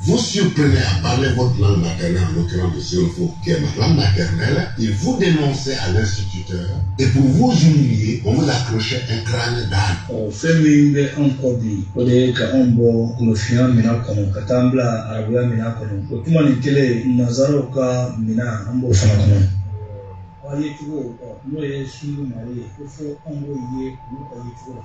Vous surprenait à parler votre langue maternelle en l'occurrence le sénoufo, qui est ma langue maternelle, il vous dénonçait à l'instituteur, et pour vous humilier, on vous accrochait un crâne d'âne. O fɛn min bɛ an kɔ bi o de ye ka anw bɔ golofinya minɛn kɔnɔ ka taa an bila arabuya minɛn kɔnɔ o tuma nin kelen nanzaraw ka minɛn an b'o fana kɔnɔ wa ye cogo n'o ye sunu mali ye ko fo an b'o ye olu ka ye cogo la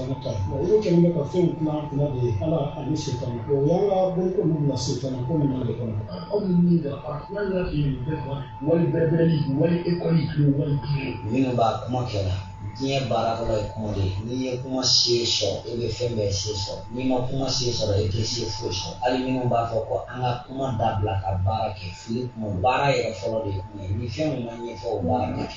olu kɛlen bɛ ka fɛn kuma kuma de ye ala ani setani ko o y'an ka boloko ninnu na setani ko ninnu de kɔnɔ aw ni min bɛ a kuma yɛrɛ de ye bɛɛ kɔnɔ wali bɛɛ bɛ ni wali ekɔli kilo wali kilo minnu b'a kuma kɛ la diɲɛ baara fɔlɔ ye kuma de ye n'i ye kuma se sɔrɔ e bɛ fɛn bɛɛ se sɔrɔ n'i ma kuma se sɔrɔ e tɛ se foyi sɔrɔ hali minnu b'a fɔ ko an ka kuma dabila ka baara kɛ fili b'u ma baara yɛrɛ fɔlɔ de ye kuma ye ni fɛn min ma ɲɛfɔ o baara kɛ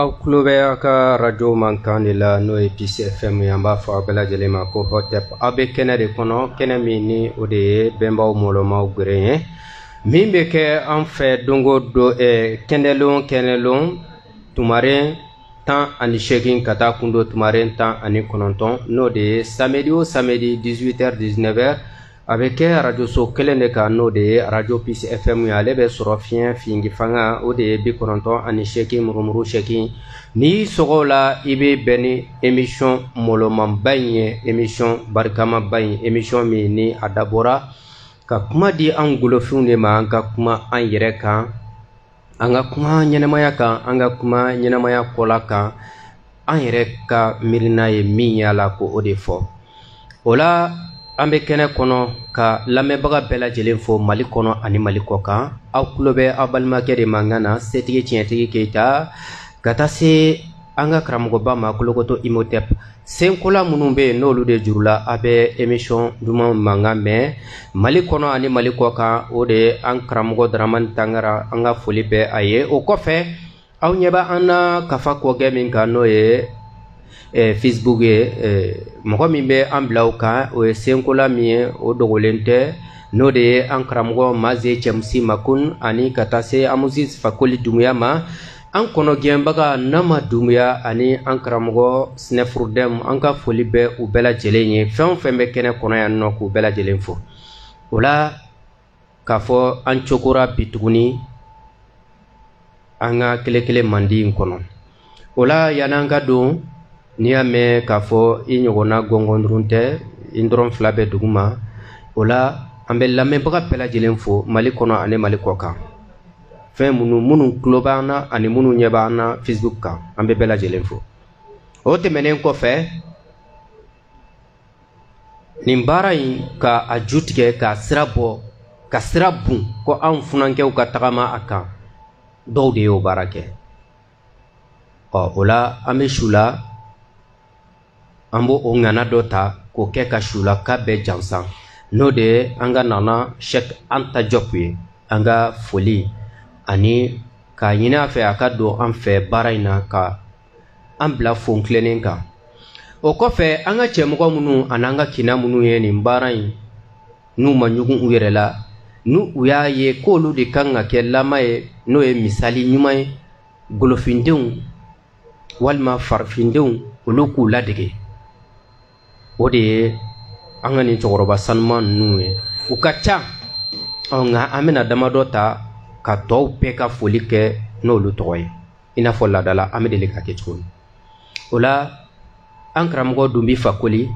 aw tulo bɛ aw ka arajo mankan de la n'o ye Peace FM ye an b'a fɔ aw bɛɛ lajɛlen ma ko hotep aw bɛ kɛnɛ de kɔnɔ kɛnɛ min ni o de ye bɛnbaw mɔlɔmaw geren ye min bɛ kɛ an fɛ dongo don eh, kɛnɛlon kɛnɛlon tumaren tan ani seegin ka taa kundo tumaren tan ani kɔnɔntɔn n'o de ye samedi o samedi 18h 19h a bɛ kɛ arajoso kelen de kan n'o de ye arajo Peace FM ye ale bɛ sɔrɔ fiɲɛ fingi fanga o de ye bi kɔnɔntɔn ani seegin murumuru seegin n'i y'i sɔgɔ o la i bɛ bɛn ni emisiyɔn mɔlɔmanba in ye emisiyɔn barikamaba in emisiyɔn min ni a dabɔra ka kuma di an golofinw de ma an ka kuma an yɛrɛ kan an ka kuma ɲɛnamaya kan an ka kuma ɲɛnamaya kɔla kan an yɛrɛ ka miirina ye min y'a la ko o de fɔ o la an bɛ kɛnɛ kɔnɔ ka lamɛnbaga bɛɛ lajɛlen fo mali kɔnɔ ani mali kɔkan aw tulo bɛ aw balimakɛ de mankan na setigi tiɲɛtigi keyita ka taa se an ka karamɔgɔba ma kolokoto imotep senkola minnu bɛ yen n'olu de jurula a bɛ emisiyɔn duman mankan mɛn mali kɔnɔ ani mali kɔkan o de ye an karamɔgɔ daramani tangara an ka foli bɛ a ye o kɔfɛ aw ɲɛ bɛ an na kafa kɔkɛ min kan n'o ye eh, facebook ye eh, mɔgɔ min bɛ an bila o kan o ye senkola min ye o dogolen tɛ n'o de ye an karamɔgɔ maze cɛmusi makun ani ka taa se amusis fakoli dumuya ma an kɔnɔgɛnbaga nama dumuya ani an karamɔgɔ sinɛfurudɛm an ka foli bɛ u bɛɛ lajɛlen ye fɛn o fɛn bɛ kɛnɛ kɔnɔ yan nɔ k'u bɛɛ lajɛlen fo o la k'a fɔ an cokora bi tuguni an ka kelekele mandi in kɔnɔ o la yann'an ka don n'i y'a mɛn k'a fɔ i ɲɔgɔnna gɔngɔndurun tɛ i tɔrɔn fila bɛ dugu ma o la an bɛ lamɛnbaga bɛɛ lajɛlen fo mali kɔnɔ ani mali kɔkan fɛn minnu minnu tulo b'an na ani minnu ɲɛ b'an na facebook kan an bɛ bɛɛ lajɛlen fo o tɛmɛnen kɔfɛ nin baara in ka a ju tigɛ ka sira bɔ ka sira bon ko anw funankɛw ka tagama a kan dɔw de y'o baara kɛ ɔ o la an bɛ su la an b'o ŋana dɔ ta k'o kɛ ka sulaka bɛɛ jansan n'o de ye an ka nana sɛk anta jɔp ye an ka foli ani k'a ɲini a fɛ a ka don an fɛ baara in na ka an bila fon tilennen kan o kɔfɛ an ka cɛmɔgɔ minnu an'an ka kina minnu ye nin baara in n'u ma ɲugun u yɛrɛ la ni u y'a ye k'olu de kan ka kɛ lama ye n'o ye misali ɲuman ye golofindenw walima farifindenw olu k'u ladege o de ye an ka nin cɛkɔrɔba sanuman ninnu ye u ka ca nka an bɛna damadɔ ta ka tɔw bɛɛ ka foli kɛ n'olu tɔgɔ ye i n'a fɔ laadala an bɛ deli ka kɛ cogo min o la an karamɔgɔ dunbi fakoli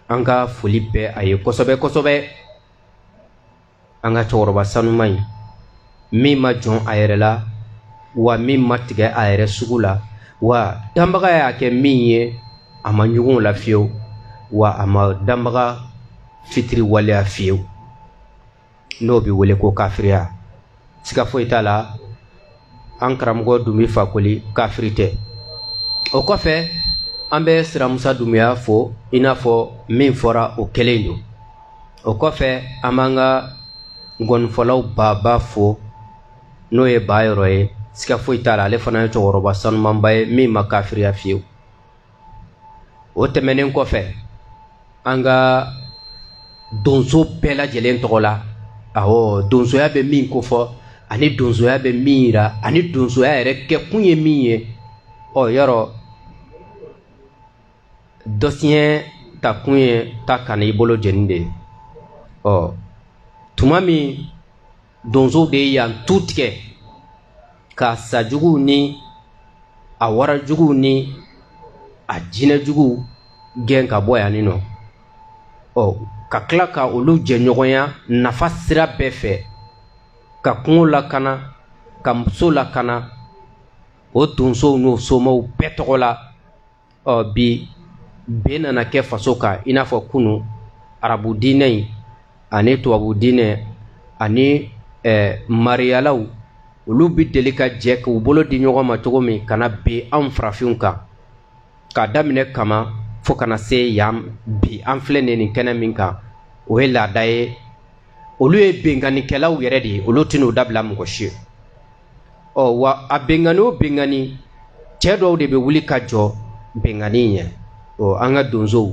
an ka foli bɛ a ye kosɛbɛ kosɛbɛ an ka cɛkɔrɔba sanuman in min ma jɔn a yɛrɛ la wa min ma tigɛ a yɛrɛ sugu la wa danbaga y'a kɛ min ye a ma ɲugun o la fiyewu wa a ma danbaga fitiriwaleya fiyewu n'o bɛ wele ko kafiriya siga foyi t'a la an karamɔgɔ dunbi fakoli kafiri tɛ o kɔfɛ an bɛ siramusa dumuya fo i n'a fɔ min fɔra o kelen don o kɔfɛ an b'an ka ngɔnifɔlaw baaba fo n'o ye ba yɔrɔ ye siga foyi t'a la ale fana ye cɛkɔrɔba sanumanba ye min ma kafiriya fiyewu o tɛmɛnen kɔfɛ an ka donso bɛɛ lajɛlen tɔgɔ la awɔ donsoya bɛ min kofɔ ani donsoya bɛ min yira ani donsoya yɛrɛ kɛkun ye min ye ɔ yɔrɔ dɔsiɲɛ takun ye ta kan'i bolo jeni de ye ɔ tuma min donsow de ye yan tu tigɛ k'a sajuguw ni a warajuguw ni a jinɛjuguw gɛn ka bɔ yan nɔ ɔ ka tila ka olu jɛɲɔgɔnya nafa sira bɛɛ fɛ ka kungo lakana ka muso lakana o donsow n'o somaw bɛɛ tɔgɔ la ɔ bi bin nana kɛ faso kan i n'a fɔ kunu arabu diinɛ in ani tubabu diinɛ ani ɛɛ eh, mariyalaw olu bɛ deli ka jɛ k'u bolo di ɲɔgɔn ma cogo min ka na bin anw farafinw kan k'a daminɛ kama fo ka na se yan bi an filɛ nin nin kɛnɛ min kan o ye laada ye olu ye binkannikɛlaw yɛrɛ de ye olu tɛn'o dabila mɔgɔ si ye ɔ wa a binkanni o binkanni cɛ dɔw de bɛ wuli ka jɔ binkanni ɲɛ ɔ an ka donsow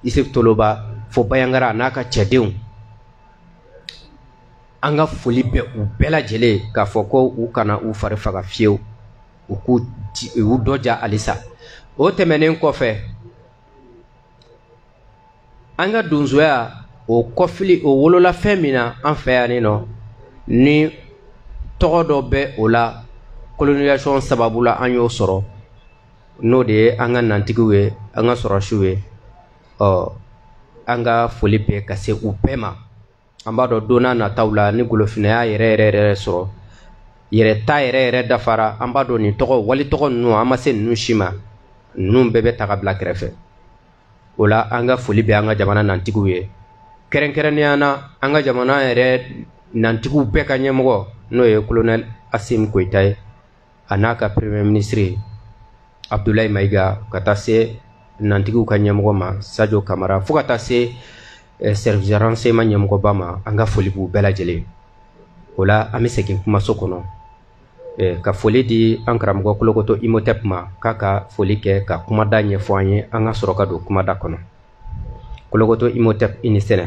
isuf toloba fo bayangara a n'a ka cɛdenw an ka foli bɛ u bɛɛ lajɛlen k'a fɔ ko u kana u fari faga fiyewu u k'u dɔja halisa o tɛmɛnen kɔfɛ an ka donsoya o kɔfili o wolola fɛn min na an fɛ yan nɔ ni tɔgɔ dɔ bɛ o la colonisation sababu la an y'o sɔrɔ n'o de ye an ka nantigiw ye an ka sɔrɔdasiw ye ɔ an ka foli bɛ ka se u bɛɛ ma an b'a dɔn don nataw la ni golofinaya yɛrɛ yɛrɛ yɛrɛ sɔrɔ yɛrɛ ta yɛrɛ yɛrɛ dafara an b'a dɔn nin tɔgɔ walitɔgɔ ninnu an ma se ninnu si ma ninnu bɛɛ bɛ ta ka bila kɛrɛfɛ o la an ka foli bɛ an ka jamana nantigiw ye kɛrɛnkɛrɛnnenya na an ka jamana yɛrɛ nantigiw bɛɛ ka ɲɛmɔgɔ n'o ye kolonɛli asimi goyita ye a n'a ka premier ministre abdulayi mayiga ka taa se nantigiw ka ɲɛmɔgɔ ma sajo kamara fo ka taa se eh, service renseignement ɲɛmɔgɔba ma an ka foli b'u bɛɛ lajɛlen o la an bɛ segin kumaso kɔnɔ eh, ka foli di an karamɔgɔ kolokoto imotep ma k'a ka foli kɛ ka kumada ɲɛfɔ an ye an ka sɔrɔ ka don kumada kɔnɔ kolokoto imotep i ni sɛnɛ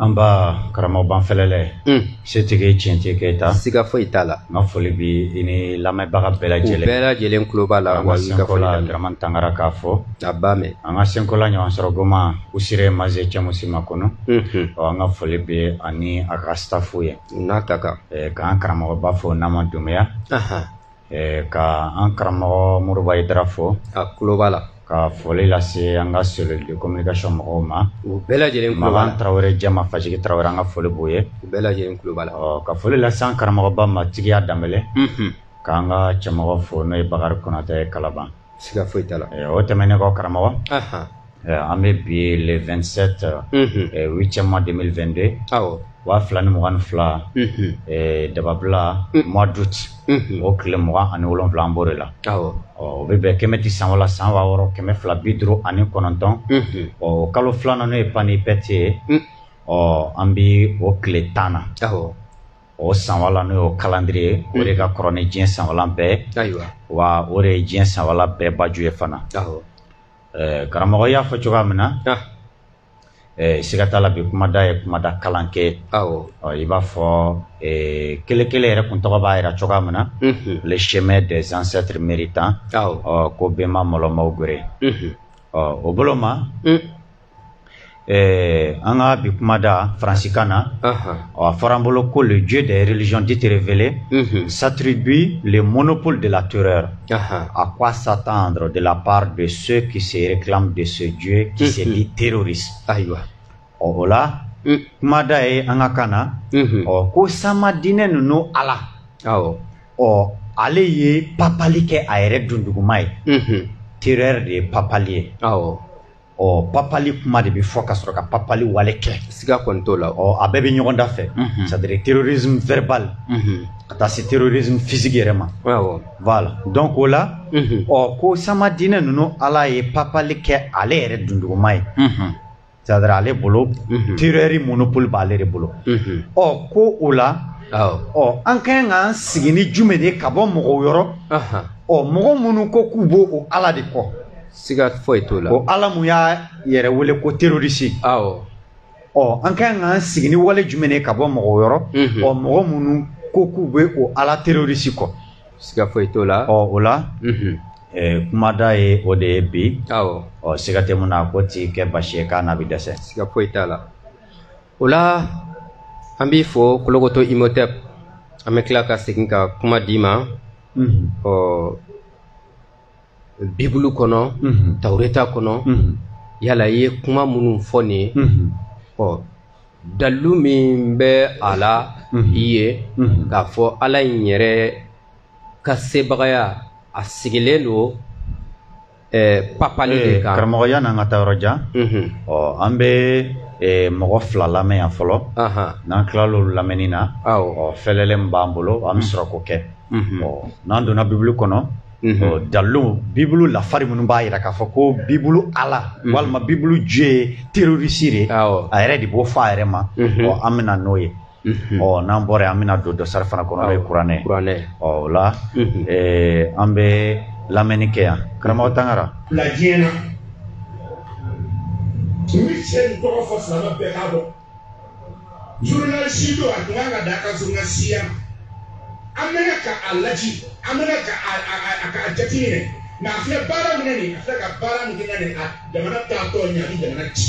nba karamɔgɔ banfɛlɛlɛ mm. setigi tiɲɛtigi keyita siga foyi t'a la n ka foli bi i ni lamɛnbaga bɛɛ lajɛlen bɛɛ lajɛlen tulo b'a la wa senkola daraman tangara k'a fɔ a b'a mɛn an ka senkola ɲɔgɔn sɔrɔ goma usire maze cɛmusi makɔnɔ mm-hmm. ɔ an ka foli bi a ni a ka stafu ye n'a ta kan k'an karamɔgɔba fo nama dunbiya Ɛɛ ka an karamɔgɔ moriba ayidara fo k'a tulo b'a la ka foli lase an ka cellule de communication mɔgɔw ma u bɛɛ lajɛlen makan tarawele jama fajigi tarawele an ka foli b'u ye u bɛɛ lajɛlen tulo b'a la ka foli lase an karamɔgɔba ma tigiya danbɛlɛ k'an ka cɛmɔgɔ fo n'o ye bakari konatɛ kalaban siga foyi t'a la o tɛmɛnen kɔ karamɔgɔ an bɛ bi le 27 8e mois 2022 awɔ waa fila ni mugan ni fila dababila mois d'août o tile mugan ani wolonwula an b'o de la awɔ o bɛ bɛn kɛmɛti san wala san waa wɔɔrɔ kɛmɛ fila bi duuru ani kɔnɔntɔn o kalo filanan n'o ye panipɛti ye ɔ an bɛ o tile tan na awɔ o sanwala n'o ye kalandiri ye o de ka kɔrɔ ni diɲɛ sanwala bɛɛ wa o de ye diɲɛ sanwala bɛɛ baju ye fana karamɔgɔ y'a fɔ cogoya min na siga t'a la bi kumada ye kumada kalan kɛ i b'a fɔ kelen kelen yɛrɛ kuntɔgɔ b'a jira cogoya min na le chemin des ancêtres méritants ko bɛnba mɔlɔmaw gere ɔ o bolo ma Ɛɛ an ka bi kuma da faransikan na a fɔra bolo ko le jo de yɛrɛrezyɔnditrevele satiribi le mɔnɔnop de la to a k' a sa tan dɔrɔn de la pa de so kisɛ ki de sojue kisɛ ni terri ayiwa ɔ o la kumada ye an ka kan na ɔ ko sama diinɛ ninnu a la ɔ ale ye papli kɛ a yɛrɛ dunduguma ye teri de ye papli ye ɔ papali kuma de bɛ fɔ ka sɔrɔ ka papali wale kɛ siga kɔni t'o la ɔ a bɛɛ bɛ ɲɔgɔn da fɛ mhm. c'est à dire terrorisme verbal mhm. ka taa se terrorisme physique yɛrɛ ma voilà donc o la mhm. ɔ ko sama diinɛ ninnu ala ye papali kɛ ale yɛrɛ dunduguma ye c'est à dire ale bolo terreur monopole b'ale de bolo ɔ ko o la ɔ an ka kan k'an sigi ni jumɛn de ye ka bɔ mɔgɔw yɔrɔ ɔ mɔgɔ minnu ko k'u b'o o ala de kɔ siga foyi t'o la o ala mun y'a yɛrɛ wele ko terroriste awɔ ɔ an ka kan k'an sigi ni wale jumɛn de ye ka bɔ mɔgɔw yɔrɔ mhm. ɔ mɔgɔ minnu ko k'u bɛ o ala terroriste kɔ siga foyi t'o la ɔ o la mhm. eh, kumada ye o de ye bi awɔ ɔ siga tɛ mun na ko t'i kɛ basi ye k'a n'a bɛ dɛsɛ siga foyi t'a la o la an b'i fo kolokoto imhotep an bɛ tila ka segin ka kuma d'i ma mhm. ɔ bibulu kɔnɔ tawureta kɔnɔ yala i ye kuma minnu fɔ nin ye ɔ dalu min bɛ a la i ye k'a fɔ ala in yɛrɛ ka sebagaya a sigilen don papali de kan karamɔgɔ yan'an ka taa yɔrɔ jan ɔ an bɛ mɔgɔ fila lamɛn yan fɔlɔ n'an tilal'olu lamɛnni na ɔ fɛlɛlen min b'an bolo an bɛ sɔrɔ k'o kɛ ɔ n'an donna bibulu kɔnɔ Mhm. dalu bibulu lafari minnu b'a jira k'a fɔ ko bibulu ala mhm. walima bibulu dieu ye terroriste de a yɛrɛ de b'o fɔ a yɛrɛ ma mhm. an bɛ na n'o ye ɔ n'an bɔra an bɛna don dɔsari fana kɔnɔ n'o ye kuranɛ ye ɔ o la an bɛ lamɛnni kɛ yan karamɔgɔ tangara. bila diɲɛ na n bɛ cɛ nin tɔgɔ fɔ silamɛ bɛɛ k'a dɔn. zurunalisi don a tun kan ka da ka zurunalisiya an bɛna ka a laji an bɛna ka a a a ka a jate minɛ mɛ a filɛ baara min na nin a filɛ ka baara min kɛ nin a jamana taatɔ ɲɛ a bɛ jamana ci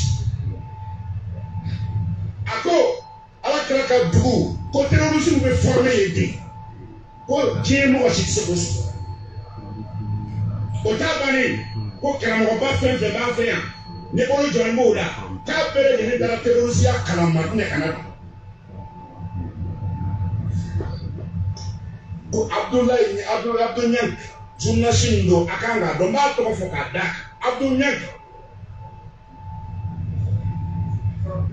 a ko ala kira ka dugu ko terorisiw bɛ fɔrɔmɛ yen ten ko diɲɛ mɔgɔ si tɛ se k'o sɔrɔ o t'a bannen ko karamɔgɔba fɛn fɛn b'an fɛ yan ne bolo jɔlen b'o la k'a bɛɛ lajɛlen taara terorisiya kalan madinɛ ka na don ko abdoul niang abdoul niang zurunalisi min don a kan k'a dɔn n b'a tɔgɔ fɔ k'a da abdoul niang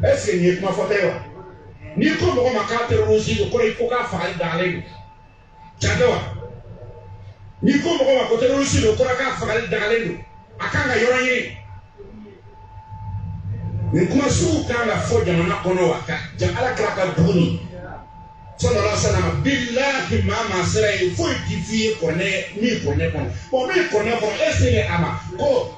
ɛseke nin ye kuma fɔta ye wa n'i ko mɔgɔ ma k'a terorisi don kɔrɔ i ko k'a fagali dagalen don tiɲɛ tɛ wa n'i ko mɔgɔ ma ko terorisi don kɔrɔ k'a fagali dagalen don a kan ka yɔrɔ ɲini nin kuma sugu kan ka fɔ jamana kɔnɔ wa ka ja ala kira ka dugu nin sallallahu alayhi wa sallam bilahi maa maa sera ye foyi ti fi ye kɔnɛ min kɔnɛ kɔnɔ bɔn min kɔnɛ kɔnɔ e se a ma ko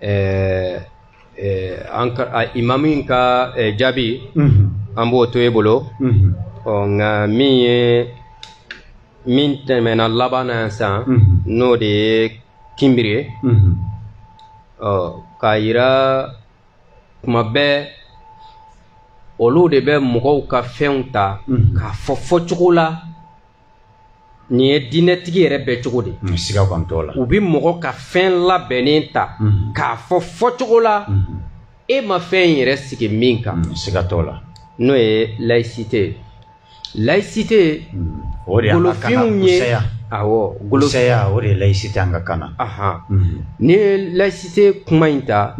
eh, eh, an ka a imamu in ka eh, jaabi mhm. an b'o to e bolo mhm. ɔ nka min ye min tɛmɛna laban na sisan mhm. n'o de ye kinbiri ye ɔ k'a yira kuma bɛɛ olu de bɛ mɔgɔw ka fɛnw ta k'a fɔ fɔcogo la nin ye diinɛtigi yɛrɛ bɛɛ cogo de ye siga kɔni t'o la u bɛ mɔgɔ ka fɛn labɛnnen ta mhm. k'a fɔ fɔcogo la mhm. e ma fɛn in yɛrɛ sigi min kan mhm, siga t'o la n'o ye laïcité ye laïcité o de y'an ka kan ye awɔ golosaya o de ye laïcité an ka kan na n'i ye laïcité kuma in ta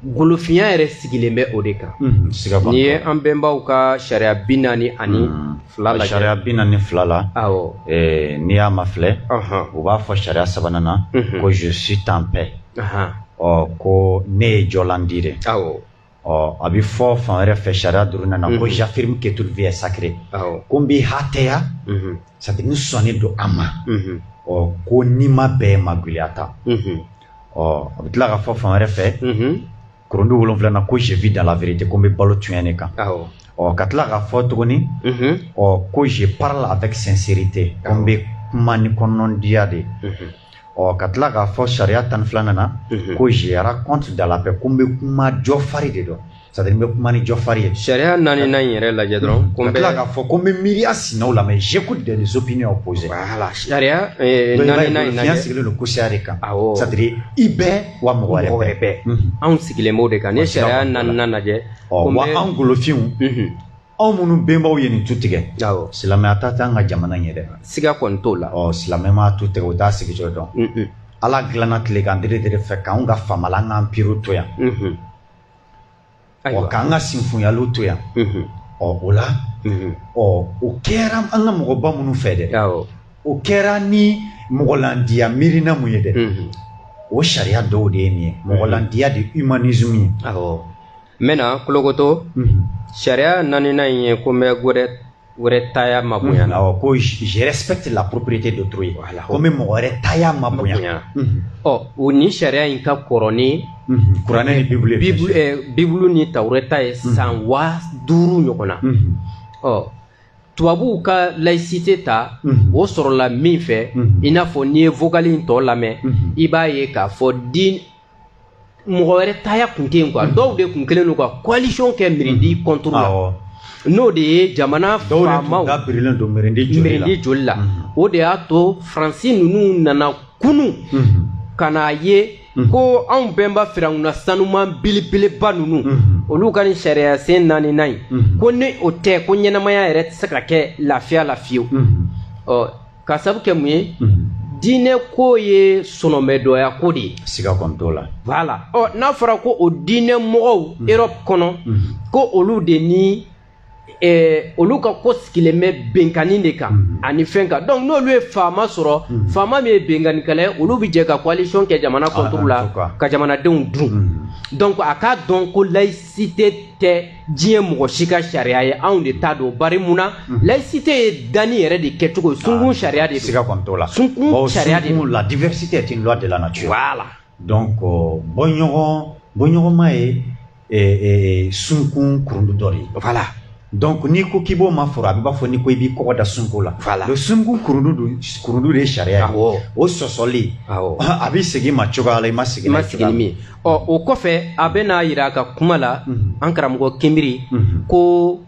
golofiya yɛrɛ sigilen bɛ o de kan mhm, n'i ye an bɛnbaw ka sariya bi naani ani mhm. fila lajɛ sariya bi naani fila la awɔ eh, n'i y'a mafilɛ u b'a fɔ sariya sabanan na mhm. ko je suis en paix ɔ ko ne ye jɔlandi de awɔ ɔ a bɛ fɔ fan wɛrɛ fɛ sariya duurunan na ko j'affirme que toute vie est sacrée ko n b'i hatɛya c'est à dire n sɔnnen don a ma ɔ ko nima bɛɛ magɛlɛyata ɔ a bɛ tila k'a fɔ fan wɛrɛ fɛ kurundu wolonwula na ko je vis dans la vérité ko n bɛ balo tiɲɛ de kan ɔ ka tila k'a fɔ tuguni ɔ ko je parle avec sincérité ko n bɛ kuma ni kɔnɔndiya de ɔ ka tila k'a fɔ sariya tan ni filanan na ko je raconte dans la paix ko n bɛ kuma jɔ fari de dɔ c'est à dire n bɛ kuma ni jɔfari ye. sariya naaninan in yɛrɛ lajɛ dɔrɔn. ko n bɛ ka tila k'a fɔ ko n bɛ miiriya sinaw lamɛn j'écoute des opinions opposées. voilà sariya eh, naaninan in lajɛ. diɲɛ sigilen don kosaya de kan. awɔ c'est à dire i bɛ wa mɔgɔ wɛrɛ bɛ. mɔgɔ wɛrɛ bɛ. anw sigilen b'o de kan nin sariya naaninan lajɛ. ɔ wa anw golofinw. anw minnu bɛnbaw ye nin tu tigɛ silamɛya ta tɛ an ka jamana in ye dɛ siga kɔni t'o la ɔ silamɛ ma tu tigɛ o t'a sigi cogo dɔn ala dilanna tilekan dere dere fɛ k'anw ka famala an k'an piriw to yan ɔ k'an ka sinfunyaliw to yan ɔ o la ɔ o kɛra an ka mɔgɔba minnu fɛ dɛ o kɛra ni mɔgɔlandiya miirina mun ye dɛ o sariya dɔw de ye nin ye mɔgɔlandiya de humanisme ye n bɛna kolokoto sariya naaninan in ye ko n bɛ mɔgɔ wɛrɛ taya mabonya la awɔ ko je respecte la propriété d'autrui voilà ko n bɛ mɔgɔ wɛrɛ taya mabonya ɔ o nin sariya in ka kɔrɔ ni kuranɛ ni bibulu ye bibulu ni tawurɛta ye san waa duuru ɲɔgɔn na ɔ tubabuw ka laïcité ta o sɔrɔla min fɛ i n'a fɔ n'i ye vocal in tɔ lamɛn i b'a ye k'a fɔ din mɔgɔ wɛrɛ taya kun tɛ yen quoi dɔw de kun kɛlen don ka coalition kɛ mirindi mm-hmm. contre la n'o de ye jamana faamaw mirindi joli la mm-hmm. o de y'a to faransi ninnu nana kunu mm-hmm. ka n'a ye ko anw bɛnba firawuna sanuman belebeleba ninnu olu ka nin sariya sen naaninan in ko ni o tɛ ko ɲɛnamaya yɛrɛ tɛ se ka kɛ lafiya la fiyewu k'a sabu kɛ mun ye diinɛ ko ye sɔnɔmɛdɔya ko de ye siga kɔni t'o la voilà ɔ n'a fɔra ko o diinɛ mɔgɔw mhm. Europe kɔnɔ mhm. ko olu de ni eh, olu ka ko sigilen bɛ binkanni de kan mhm. ani fɛn kan donc n'olu ye faama sɔrɔ faama min ye binkannikɛla ye olu bɛ jɛ ka coalition kɛ jamana contre ah, la ka jamanadenw dun donc a k'a dɔn ko laïcité tɛ diɲɛ mɔgɔ si ka sariya ye anw de t'a dɔn bari mun na mhm. laïcité ye danni yɛrɛ de kɛcogo ye sunkun ah, sariya de don siga kɔni t'o la sunkun sariya de don la diversité est une loi de la nature voilà donc euh, bɔɲɔgɔn bɔɲɔgɔnma ye eh, eh, sunkun kurundu dɔ de ye voilà donc n'i ko k'i b'o ma foro a bɛ b'a fɔ n'i ko i b'i kɔgɔ da sunkun la voilà le sunkun kurundu don kurundu de ye sariya ye o sɔsɔli a bɛ segin ma cogoya la i ma segin ma segin ni min ye ɔ o kɔfɛ a bɛ n'a yira a ka kuma la mhm. an karamɔgɔ kinbiri mhm. ko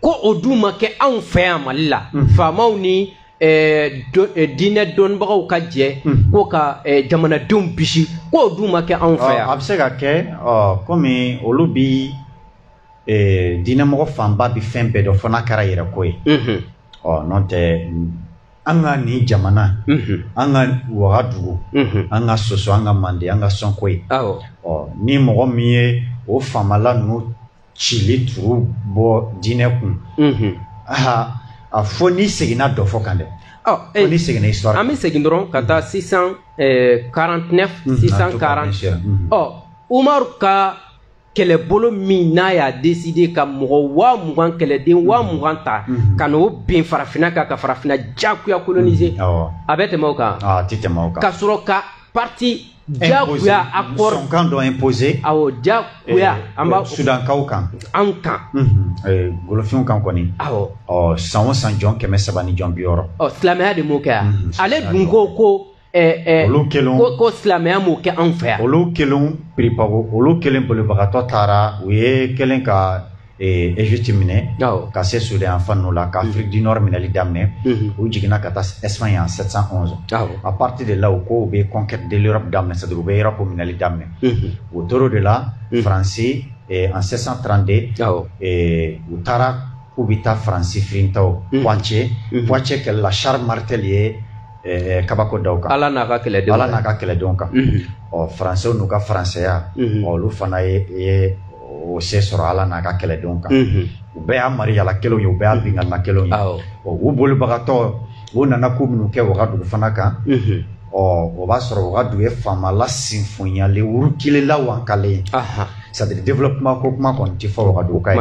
ko o dun ma kɛ anw fɛ yan mali la mhm. faamaw ni Eh, eh, diinɛ dɔnnibagaw ka jɛ hmm. ko ka eh, jamanadenw bisi k'o dun ma kɛ anw fɛ yan a bɛ se ka kɛ kɔmi olu bi diinɛmɔgɔ fanba bi fɛn bɛɛ dɔn fo n'a kɛra yɛrɛ ko ye hmm. ɔ n'o tɛ an ka nin jamana an ka wagadugu an ka soso an ka mande an ka sɔnkoyi ni mɔgɔ min ye o faamala ninnu cili turu bɔ diinɛ kun a fo n'i seginna dɔfɔ kan dɛ e n'i seginna histoire an bɛ segin dɔrɔn ka taa 649 640 ɔ umaru ka kɛlɛbolo min n'a y'a deside ka mɔgɔ waa mugan kɛlɛden waa mhm. mugan ta mhm. ka n'o bin farafinna kan ka farafinna jagoya kolonize mhm. a bɛ tɛmɛ o kan ah, ka sɔrɔ ka parti jagoya accord sɔnkan dɔ imposé awɔ jagoya eh, an b'a eh, sudankaw kan an kan eh, golofinw kan kɔni awɔ ɔ san o san jɔn kɛmɛ saba ni jɔn bi wɔɔrɔ ɔ silamɛya de m'o kɛ yan ale dun ko ko ɛɛ olu kelen ko ko silamɛya m'o kɛ anw fɛ yan olu kelen piripago olu kelen bolibagatɔ taara u ye kelen ka Eh, Egypte minɛ ka se Sudan fan ninnu la ka mm. Afrique du Nord minɛli daminɛ mm-hmm. u jiginna ka taa Espagne en 711 à partir de là u ko u bɛ conquête de l'Europe daminɛ c'est-à-dire u bɛ Europe minɛli daminɛ mm-hmm. u tor'o de la mm. France eh, en 732 eh, u taara k'u bɛ taa France firintaw mm. Poitiers Poitiers kɛlɛ la Charles Martel ye eh, kabako da u kan ala n'a ka kɛlɛdenw ala n'a ka kɛlɛdenw kan mhm. ɔ faransɛw n'u ka faransɛya mhm. ɔ olu fana ye o se sɔrɔ ala n'a ka kɛlɛdenw kan mhm. u bɛɛ y'a mariyala kelenw ye u bɛɛ y'a binkanna kelenw ye ɔ u bolibagatɔ u nana ko minnu kɛ wagadugu fana kan ɔ o b'a sɔrɔ wagadugu ye faamala sinfonyalen wurukilen wankalen c'est-à-dire développement ko kuma kɔni tɛ fɔ wagadugu ka ye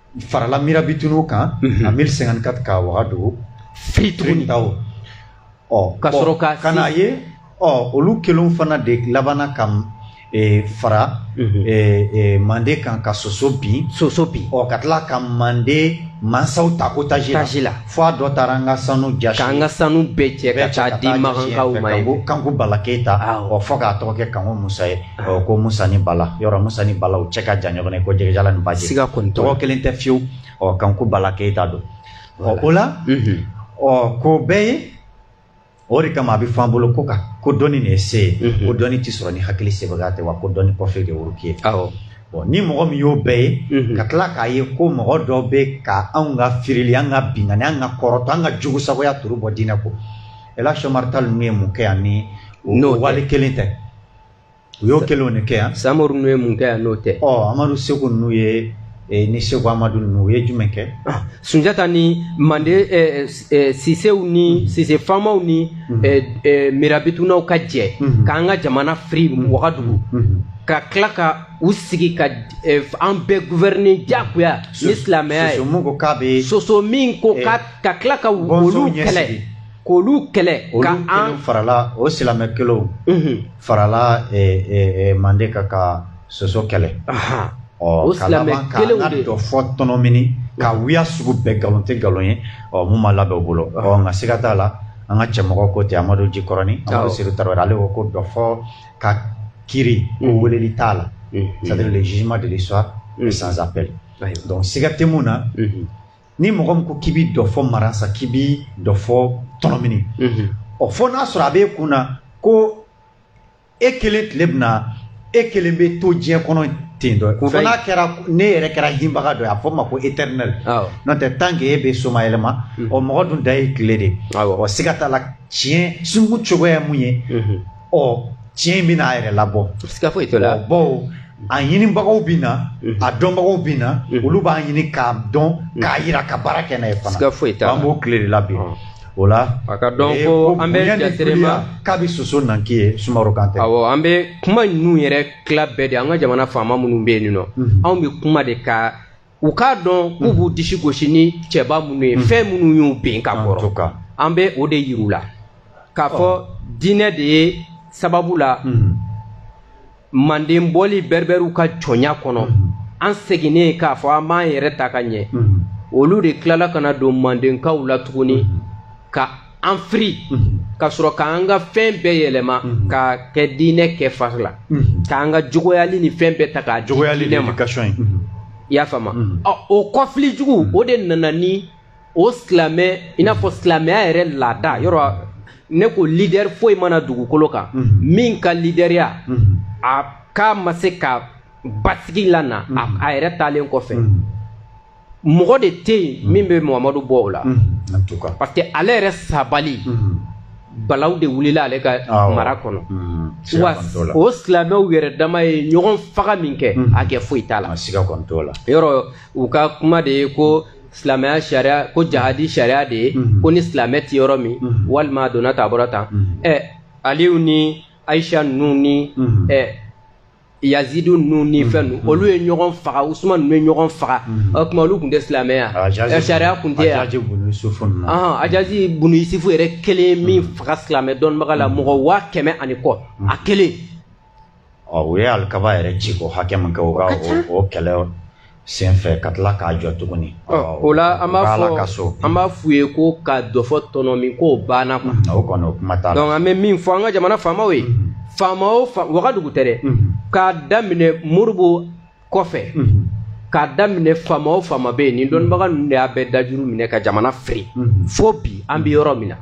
farala mirabitunw kan en 1054 ka wagadugu firi tuguni ɔ ka sɔrɔ ka na ye ɔ olu kelen fana de labanna ka fara mande kan ka soso bin soso bin ɔ ka tila ka mande mansaw ta otage la fo a dɔ taara an ka sanu ja an ka sanu bɛɛ cɛ ka taa di makankaw ma ko kanku bala keyita ɔ fo k'a tɔgɔ kɛ kanku musa ye Ɔ ko musa ni bala yɔrɔ musa ni bala u cɛ ka jan ɲɔgɔn ye ko jɛgɛjalan ni baji siga kɔni tɔgɔ kelen tɛ fiyewu ɔ kanku bala keyita don ɔ o la ɔ k'o bɛɛ ye o de kama a bɛ fɔ an bolo ko ka ko dɔnni de ye se ye ko dɔnni tɛ sɔrɔ ni hakili sebagaya tɛ wa ko dɔnni kɔfɛ de wuruki ye bɔn ni mɔgɔ min y'o bɛɛ ye mhm. ka tila k'a ye ko mɔgɔ dɔ bɛ ka anw ka firili an ka binkanni an ka kɔrɔtɔ an ka jugusagoya turu bɔ diinɛ kun Elhadji Omar Tall ninnu ye mun kɛ yan ni o wale kelen tɛ u y'o kelenw de kɛ yan samori ninnu ye mun kɛ yan n'o tɛ ɔ amadu seku ninnu ye eh, ni seku amadu ninnu u ye jumɛn kɛ ah, sunjata ni mande eh, eh, sisew ni mm-hmm. sise faamaw ni mm-hmm. eh, eh, mirabitunaw ka jɛ mm -hmm. k'an ka jamana firi mm-hmm. wagadugu mm -hmm. ka tila ka u sigi ka eh, an bɛɛ guvɛrɛne jagoya ni silamɛya ye soso min ko k'a bɛ soso min ko k'a eh, ka tila ka olu kɛlɛ k'olu kɛlɛ ka an farala o silamɛ kelenw mhm. farala eh, eh, eh, mande kan ka soso kɛlɛ o silamɛ kelenw de dɔfɔ tɔnɔmini ka mhm. wiya sugu bɛɛ nkalon tɛ nkalon ye ɔ mun ma labɛn o bolo ɔ nka siga t'a la an ka cɛmɔgɔ ko ten amadu jikɔrɔni amadu seyidu tarawele ale ko ko dɔfɔ ka kiri ko mhm. weleli t'a la c'est à dire le jugement de l'histoire est sans appel donc siga tɛ mun na ni mɔgɔ min ko k'i bɛ dɔfɔ maransa k'i bɛ dɔfɔ tɔnɔmini mhm. ɔ fo n'a sɔrɔ a b'e kun na ko e kelen tile bɛna e kelen bɛ to diɲɛ kɔnɔ ten dɔ fo n'a kɛra ne yɛrɛ kɛra hinbaga dɔ ye a fɔ ma ko éternel n'o tɛ tant que e bɛ somayɛlɛma mhm. ɔ mɔgɔ dun da ye tile de ye ɔ siga t'a la tiɲɛ sunkun cogoya ye mun ye mhm. ɔ tiɲɛ in bɛna a yɛrɛ labɔ siga foyi t'o la bawo a ɲinibagaw bɛ na mhm. a dɔnbagaw bɛ na mhm. olu b'a ɲini k'a dɔn mhm. k'a yira ka baara kɛ n'a ye fana siga foyi t'a la an b'o tile de la bi o la a ka dɔn ko an bɛ jaterema k'a bɛ soso nanki ye sumaworo kantɛ awɔ an bɛ kuma ninnu yɛrɛ tila bɛɛ de an ka jamana faama minnu bɛ yen nɔ anw bɛ kuma de ka u k'a dɔn k'u b'u disi gosi ni cɛba minnu ye fɛn minnu y'u ben ka kɔrɔ an bɛ o de yir'u la k'a fɔ diinɛ de ye sababu la manden bɔli bɛribɛriw ka jɔnya kɔnɔ an seginnen k'a fɔ an b'an yɛrɛ ta ka ɲɛ olu de tilala ka na don mandenkaw la tuguni ka an firi ka sɔrɔ k'an ka fɛn bɛɛ yɛlɛma ka kɛ diinɛ kɛ fari la k'an ka jogoyali ni fɛn bɛɛ ta k'a di diinɛ ma i y'a faamu o kɔfili jugu o de nana ni o silamɛ i n'a fɔ silamɛya yɛrɛ lada yɔrɔ ne ko lidɛri foyi ma na dugukolo kan min ka lidɛriya a k'a ma se ka basigi la na a yɛrɛ taalen kɔfɛ mɔgɔ de tɛ yen mm-hmm. min bɛ muhamadu bɔ o la mm-hmm. parce que ale yɛrɛ sabali mm-hmm. balaw de wulila ale ka mara kɔnɔ wa o silamɛw yɛrɛ dama ye ɲɔgɔn faga min kɛ hakɛ foyi t'a la yɔrɔ u ka kuma de ye ko silamɛya sariya ko jahadi sariya de ye ko ni silamɛ tɛ yɔrɔ min walima a donna tan a bɔra tan ɛ aliyu ni ayisa ninnu ni ɛ yazidu ninnu ni mm-hmm. fɛn ninnu mm-hmm. olu ye ɲɔgɔn faga usuman ninnu ye ɲɔgɔn faga mm-hmm. o tuma olu tun tɛ silamɛya ah, sariya tun tɛ yan ajazi bunu yusufu yɛrɛ kelen min faga silamɛ dɔnnibaga la mɔgɔ waa kɛmɛ ani kɔ a kelen ɔ u ye alikaba yɛrɛ ci ko hakɛ min kɛ u ka o kɛlɛ senfɛ ka tila k'a jɔ tuguni o la an b'a fɔ ka so an b'a f'u ye ko ka dɔfɔ tɔnɔmin k'o banna quoi o kɔni o kuma t'a la donc an bɛ min fɔ an ka jamana faamaw ye mhm. faama o faama wagadugu tɛ dɛ mhm. k'a daminɛ Modibo kɔfɛ mhm. k'a daminɛ faama o faama bɛ yen nin dɔnnibaga ninnu de y'a bɛɛ dajuru minɛ ka jamana firi fo bi an bɛ yɔrɔ min na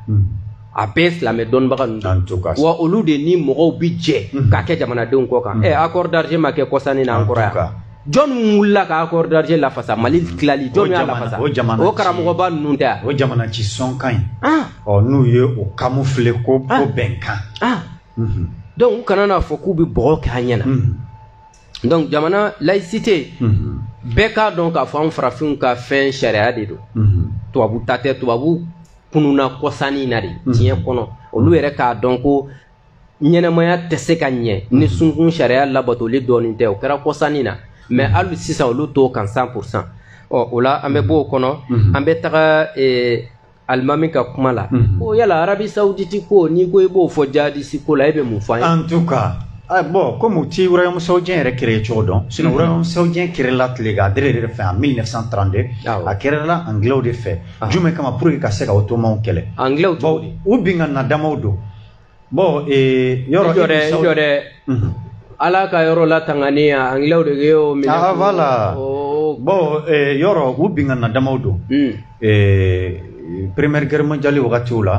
a bɛɛ silamɛ dɔnnibaga ninnu wa olu de ni mɔgɔw bi jɛ ka kɛ jamanadenw kɔ kan ɛ accord d'Alger ma kɛ kɔsa in na an kɔrɔ yan jɔnni wulila ka accord d'Alger lafasa mali tilali jɔnni y'a lafasa o jamana o karamɔgɔba ninnu tɛ o jamana ci sɔnkan in ah. ɔ n'u ye o camoufler ko ah. ko bɛnkan ah. mhm. donc u kana n'a fɔ k'u bɛ bɔgɔ kɛ an ɲɛ na mhm. donc jamana laïcité mhm. bɛɛ k'a dɔn k'a fɔ an farafinw ka fɛn sariya de don tubabu ta tɛ tubabu kununna kɔsa in na de diɲɛ kɔnɔ olu yɛrɛ k'a dɔn ko ɲɛnamaya tɛ se ka ɲɛ ni sunkun sariya labatoli dɔɔnin tɛ o kɛra kɔsa in na mais hali sisan olu t'o kan cent pour cent ɔ o la an bɛ bɔ o kɔnɔ an bɛ taga eh, alimami ka kuma la ko yala Arabie Saoudite ko n'i ko i b'o fɔ jihadiste ko la e bɛ mun fɔ an ye en tout cas ah, bon comme u ti royaume saoudien yɛrɛ créé cogo dɔn sinon mm -hmm. royaume saoudien créé la tile ka dere de fɛ en 1932 ah, a créé la anglais de fɛ ah. jumɛn kama pour que ka se ka ottomanw kɛlɛ anglais u binkanna damaw don bon ee, yɔrɔ i jɔ dɛ i jɔ dɛ ala ka yɔrɔ latangani ya anglais de y'o minɛ ah voilà oh. bon ee, yɔrɔ u binkanna damaw don hmm. ee, première guerre mondiale wagatiw la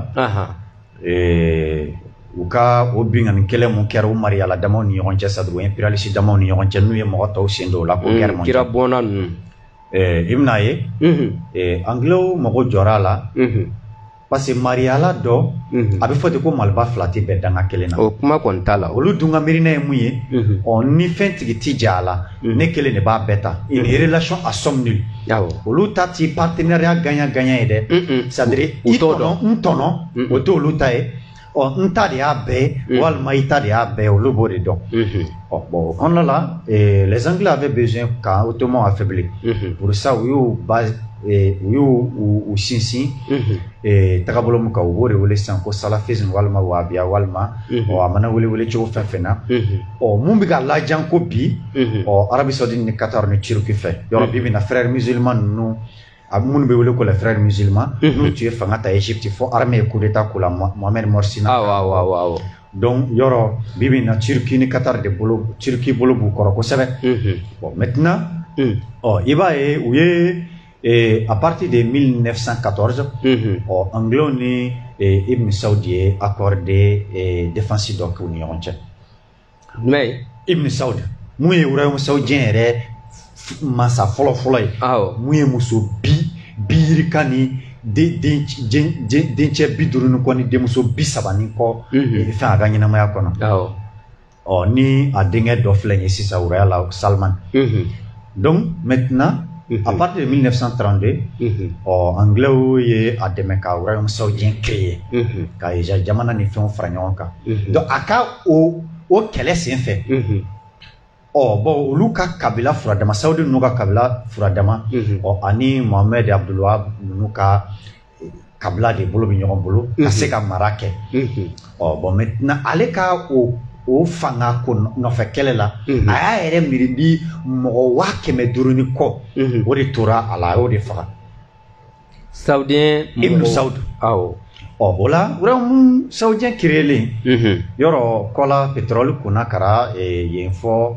ee, u ka o binkanni kɛlɛ mun kɛra u mariyala damaw ni ɲɔgɔn cɛ c'est à dire impérialiste damaw ni ɲɔgɔn cɛ n'u ye mɔgɔ tɔw sen don o la ko hmm, guerre mondiale kira bɔnna ninnu i bɛn'a ye anglais mago jɔra a la parce que mariyala dɔ mhm. a bɛ fɔ ten ko maliba fila tɛ bɛn danga kelen na o kuma kɔni t'a la olu dun ka miirina ye mun ye mhm. ɔ ni fɛn tigi ti j'a la mhm. ne kelen de b'a bɛɛ ta une relation à somme nulle olu ta ti partenariat gagnant gagnant ye dɛ c'est à dire i tɔnɔ n tɔnɔ o t'olu ta ye ɔ n ta de y'a bɛɛ mm. walima i ta de y'a bɛɛ olu b'o de dɔn mm-hmm. ɔ bon o kɔnɔna la eh, les anglais avaient besoin ka ottoman affaiblir mm-hmm. pour ça u y'u ba eh, u y'u u sinsin mm-hmm. eh, tagabolo min kan u b'o de wele sisan ko salafisme walima wahabiya walima ɔ a mana wele wele cogo fɛn fɛn na ɔ mun bɛ ka lajan ko bi ɔ Arabie Saudi ni Qatar ni Turquie fɛ yɔrɔ bi bi na frères musulmans ninnu a minnu bɛ wele ko la frères musulmans mhm. n'u tun ye fanga ta Égypte fo armée ye coup d'état k'u la Mohamed Morsi na awɔ awɔ awɔ awɔ donc yɔrɔ bi bi in na Turquie ni Qatar de bolo Turquie bolo b'u kɔrɔ kosɛbɛ mhm. bon maintenant mhm. ɔ i b'a ye u ye eh, à partir de 1914 ɔ anglais ni eh, Ibn Saudi ye accord de eh, défense dɔ k'u ni ɲɔgɔn cɛ jumɛn ye ibn saud mun ye royaume saoudien yɛrɛ masa fɔlɔ fɔlɔ ye awɔ mun ye muso bi bi yirika ni dencɛ bi duuru ni kɔ ni denmuso bi saba ni kɔ mhm. fɛn a ka ɲɛnamaya kɔnɔ awɔ ɔ ni a denkɛ dɔ filɛ ye sisan wuraya la salman mhm. donc maintenant Mm -hmm. à partir de 1932 mm -hmm. ɔ anglɛw ye a dɛmɛ ka royaume saoudien créer mm -hmm. ka hedjaz jamana ni fɛnw fara ɲɔgɔn kan mm -hmm. donc a ka o o kɛlɛ sen fɛ mm -hmm. ɔ bɔn olu ka kabila furadama saudi ninnu ka kabila furadama mm -hmm. ɔ ani mohamɛd abdulwahab ninnu ka kabila de bolo bɛ ɲɔgɔn bolo ka mhm. se ka mara kɛ mhm. ɔ bɔn maintenant ale ka o o fanga ko nɔfɛ kɛlɛ la mhm. a y'a yɛrɛ miiri di mɔgɔ waa kɛmɛ duuru ni kɔ o de tora a la a y'o de faga saoudien ibnu sawudu awɔ ɔ o la royaume saoudien créélen yɔrɔ kɔla pétrole kunna kara e, yen fɔ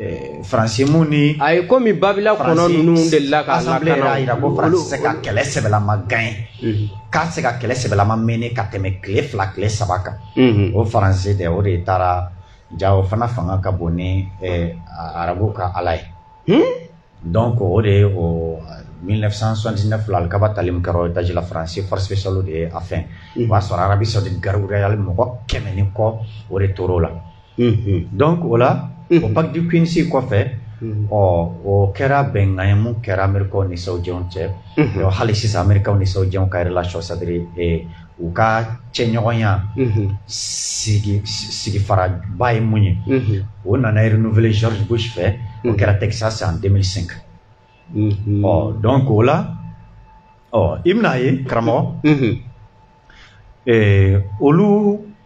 Eh, faransi mun ni a ye komi babila kɔnɔ ninnu de la ka assemblée y'a jira ko faransi tɛ se ka kɛlɛ sɛbɛlama gagner mhm. k'a tɛ se ka kɛlɛ sɛbɛlama mener ka tɛmɛ tile fila tile saba kan mhm. o faransi dɛ o de taara ja o fana fanga ka bon ni eh, arabu ka ala ye hmm? Dɔn ko o de ye o 1979 kaba tali min kɛra dajila faransi fɔsiso de ye a fɛ o b'a sɔrɔ arabi sɔrɔ de gariruyayali mɔgɔ kɛmɛ ni kɔ o de tɔɔrɔ la dɔn o la o bakidisi kɔfɛ ɔ o kɛra bɛnkan ye min kɛra mri nisɔnjɛw cɛ hali sisan mri nisɔnjɛw kari la sɔ sadiri u ka cɛɲɔgɔnya sigifaraba ye mun ye o nana renouveler George Bush fɛ o kɛra Texas en 2005 ɔ donc o la ɔ i bɛna ye karamɔgɔ olu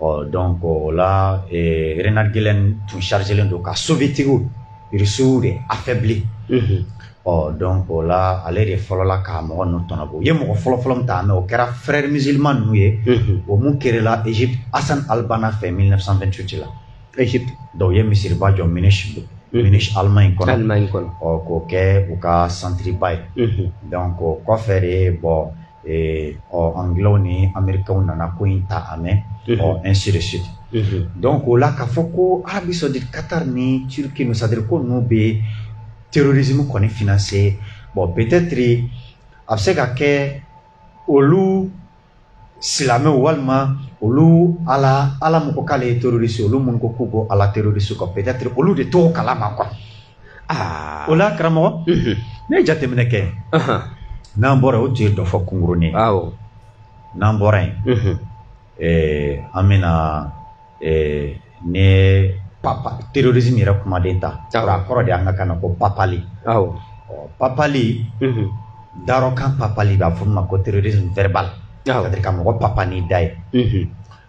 ɔ donc o la reinhard gehlen tun chargélen don ka soviétiquew irisiw de affaiblir ɔ donc o la ale de fɔlɔla ka mɔgɔ ninnu tɔnɔbɔ u ye mɔgɔ fɔlɔfɔlɔ min ta mɛ o kɛra frères musulmans ninnu ye o mun crééla egypte hassan al-banna fɛ 1928 la egypte donc u ye misiriba jɔ munich don munich allemagne kɔnɔ allemagne kɔnɔ ɔ k'o kɛ u ka centreba ye donc o kɔfɛ de bɔn ɔ anglɛw ni amerikɛnw nana ko in ta a mɛn ɔ ainsi de suite donc o la k'a fɔ ko arabie saoudite qatar ni turquie ninnu c'est-à-dire ko ninnu bɛ terrorisme kɔni financer bon peut être a bɛ se ka kɛ olu silamɛw walima olu ala ala mɔgɔ k'ale ye terroriste olu minnu ko k'u ko ala terroriste kɔ peut être olu de t'o kalama quoi o la karamɔgɔ ne ye jateminɛ kɛ n'an bɔra o tun ye dɔ fɔ kunkurunin n'an bɔra yen an bɛna ne papa terrorisme yɛrɛ kumaden ta a kɔrɔ de an ka kan na ko papali papali darɔkan papali b'a fɔ ma ko terrorisme verbal c'est-à-dire ka mɔgɔ papa n'i da ye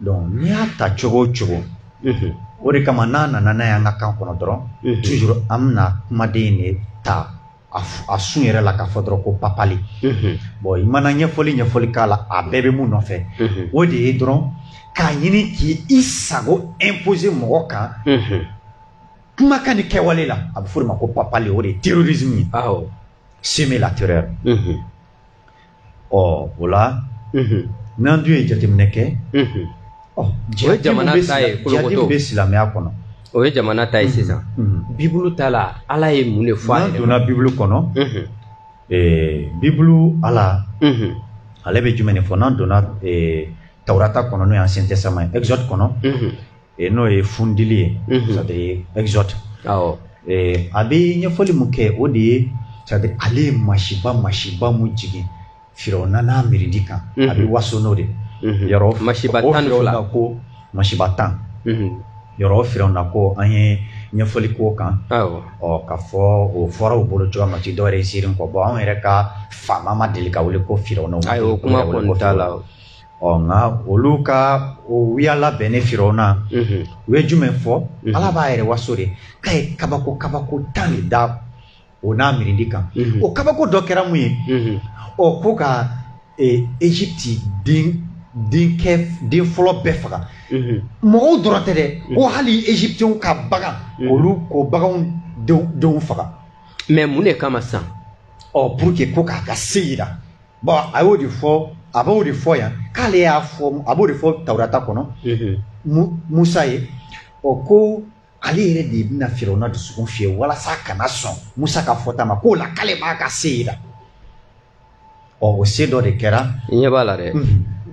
donc n'i y'a ta cogo o cogo o de kama n'a nana n'a ye an ka kan kɔnɔ dɔrɔn toujours an bɛna kumaden de ta a sun yɛrɛ la k'a fɔ dɔrɔn ko papali bon i mana ɲɛfɔli ɲɛfɔli k'a la a bɛɛ bɛ mun nɔfɛ o de ye dɔrɔn k'a ɲini k'i sago imposer mɔgɔ kan kumakan ni kɛwale la a bɛ f'o de ma ko papali o de ye terrorisme ye semer la terreur ɔ o la n'an dun ye jateminɛ kɛ jihadisme bɛ silamɛya kɔnɔ o ye jamana ta ye sisan bibulu ta la ala ye mun de fɔ a ye n'an donna bibulu kɔnɔ bibulu ala ale bɛ jumɛn de fɔ n'an donna tawurata kɔnɔ n'o ye ancien testament ye exode kɔnɔ E n'o ye fundili ye c'est-à-dire exode a bɛ ɲɛfɔli min kɛ o de ye c'est-à-dire ale ye masiba masiba min jigin firawuna n'a mirindi kan a bɛ waso n'o de yɔrɔ masiba tan ni fila ko masiba tan yɔrɔ firawuna ko an ye ɲɛfɔli k'o kan ɔ k'a fɔ o fɔra u bolo cogoya min na ti dɔwɛrɛ ye ziiri kɔ bon anw yɛrɛ ka faama ma deli ka wele ko firawuna o kuma kɔni t'a la ɔ nka olu ka o wiya labɛnnen firawuna u ye jumɛn fɔ ala b'a yɛrɛ waso de k'a ye kabako kabako tan de da o n'a mirindi kan o kabako dɔ kɛra mun ye ɔ ko ka ezipti e den denkɛ den fɔlɔ bɛɛ faga mɔgɔw dɔrɔn tɛ dɛ ko hali égyptiens ka bagan olu ko baganw denw faga mais mun de kama sisan ɔ pour que ko k'a ka se yira bɔn a y'o de fɔ a b'o de fɔ yan k'ale y'a fɔ a b'o de fɔ tawurata kɔnɔ musa ye ɔ ko ale yɛrɛ de bɛna firawuna dusukun fiyɛ walasa a kana sɔn musa ka fɔta ma k'o la k'ale b'a ka se yira ɔ o se dɔ de kɛra i ɲɛ b'a la dɛ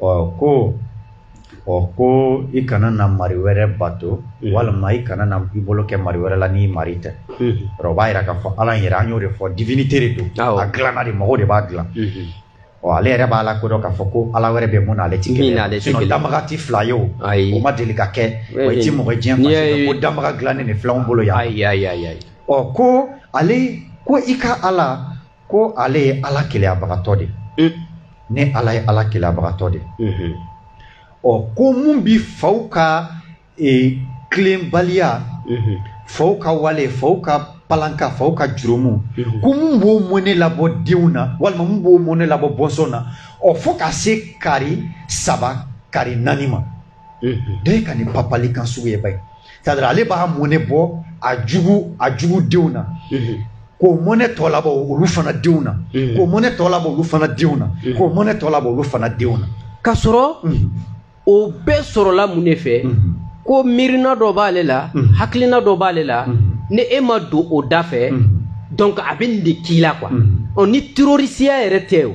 ɔ ko ɔ ko i kana na mari wɛrɛ bato walima i kana na i bolo kɛ mari wɛrɛ la n'i mari tɛ o b'a yira k'a fɔ ala yɛrɛ an y'o de fɔ divinité de don a dilanna de mɔgɔw de b'a dilan ɔ ale yɛrɛ b'a lakodɔn k'a fɔ ko ala wɛrɛ bɛ mun na ale ti kelen danbaga ti fila ye o o ma deli ka kɛ i ti mɔgɔ diɲɛ kɔnɔ ko danbaga dilannen de filɛ n bolo yan ɔ ko ale ko i ka ala ko ale ye ala keleyabagatɔ de ye ne ala ye ala keleyabagatɔ de ye ɔ ko mun bi faw ka e, tilenbaliya faw ka wale faw ka palanka faw ka jurumu ko mun b'o mɔne labɔ denw na walima mun b'o mɔne labɔ bɔnsɔn na ɔ fo ka se kari saba kari naani ma bɛɛ ka nin papali kan sugu ye ba ye c'est-à-dire ale b'a mɔnɛ bɔ a jugu a jugu denw na k'o mɔnɛ tɔ labɔ olu fana denw na k'o mɔnɛ tɔ labɔ olu fana denw na k'o mɔnɛ tɔ labɔ olu fana denw na k'a sɔrɔ o bɛɛ sɔrɔla mun de fɛ ko miirina dɔ b'ale la hakilina dɔ b'ale la ni e ma don o da fɛ donc a bɛ nin de k'i la quoi ni terrorisiya yɛrɛ tɛ o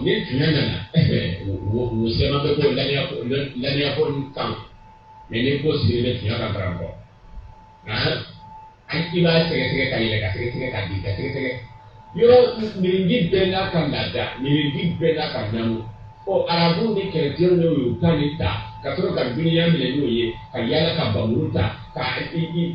ni tuma nana u sɛma bɛ ko laniyako kan mais ni ko siri bɛ tiɲɛ ka bara kɔ an i b'a sɛgɛsɛgɛ ka yɛlɛ ka sɛgɛsɛgɛ ka jigi ka sɛgɛsɛgɛ yɔrɔ mirinji bɛɛ n'a ka laada mirinji bɛɛ n'a ka namu ɔ arabu ni kerecɛnw de y'u ta nin ta ka sɔrɔ ka dunya minɛ n'o ye ka yaala ka bamuru ta ka i